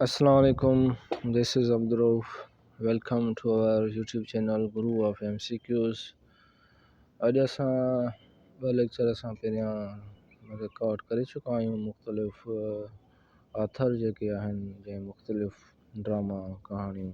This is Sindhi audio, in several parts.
اسلام عليڪم this is Abdulrauf welcome to our YouTube channel guru of M C Qs اڄ اسان ٻه ليڪچر اسان پهريان رڪارڊ ڪري چڪا آهيون مختلف آٿر جيڪي آهن جنهن مختلف ڊراما ڪهاڻيون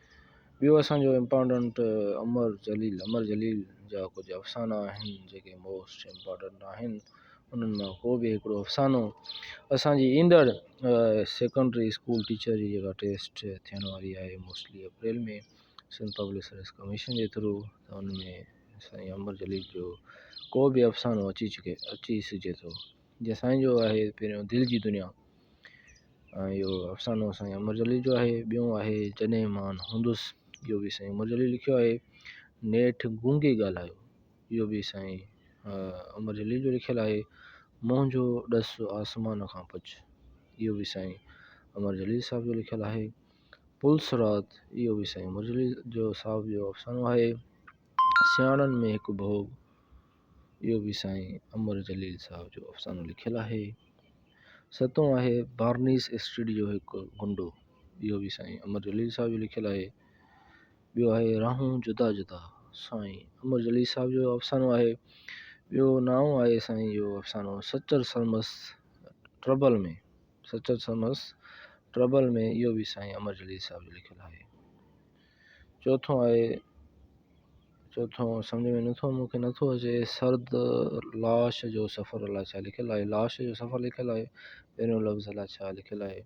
ٻيو اسان جو امپارٽنٽ امر جليل، امر جليل جا ڪجهه افسانا آهن جيڪي موسٽ امپارٽنٽ آهن انهن مان ڪو به هڪڙو افسانو اسان جي ايندڙ سيڪنڊري اسڪول ٽيچر جي جيڪا ٽيسٽ ٿيڻ واري آهي mostly April ۾ Sindh public service commission جي ٿرو ته ان ۾ سائين امر جليل جو ڪو به افسانو اچي چڪي اچي سگهجي ٿو جيسائين جو آهي پهريون دل جي دنيا ۽ اهو افسانو سائين امر جليل جو آهي ٻيو آهي جڏهن مان هوندس اهو به سائين امر جليل لکيو آهي نيٺ گونگي ڳالهايو اهو به سائين امر جليل جو لکيل آهي منهنجو ڏس آسمان کان پچ اهو به سائين امر جليل صاحب جو لکيل آهي پل صراط اهو به سائين امر جليل جو صاحب جو افسانو آهي سياڻن ۾ هڪ ڀوڳ اهو به سائين امر جليل صاحب جو افسانو لکيل آهي ستون آهي بارنيس اسٽريٽ جو هڪ گنڊو اهو به سائين امر جليل صاحب جو لکيل آهي ٻيو آهي راهون جدا جدا سائين امر جليل صاحب جو افسانو آهي ٻيو ناو آهي سائين جو افسانو سچل سرمس ٽربل ۾ سچل سرمس ٽربل ۾ اهو به سائين امر جليل صاحب جو لکيل آهي چوٿون آهي چوٿون سمجھ ۾ نٿو مون کي نٿو اچي سرد لاش جو سفر الاء ڇا لکيل آهي لاش جو سفر لکيل آهي پهريون لفظ الاء ڇا لکيل آهي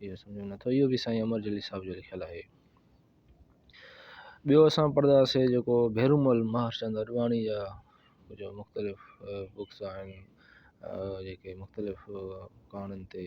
اهو سمجھ ۾ نٿو اهو به سائين امر جليل صاحب جو لکيل آهي ٻيو اسان پڙهنداسين جيڪو ڀيرومل مهرچند اڏواڻي جا جو مختلف بڪس آهن جيڪي مختلف ڪهاڻين تي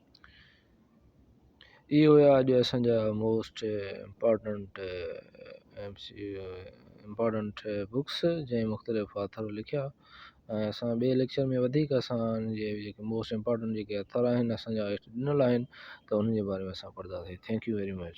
اهي هيا اڄ اسان جا most important M C important books جنهن مختلف آٿر لکيا ۽ اسان ٻئي ليڪچر ۾ وڌيڪ اسان ان جي جيڪي موسٽ امپارٽنٽ جيڪي آٿر آهن اسان جا ڏنل آهن ته انهن جي باري ۾ اسان پڙهنداسين ٿينڪ يو ويري مچ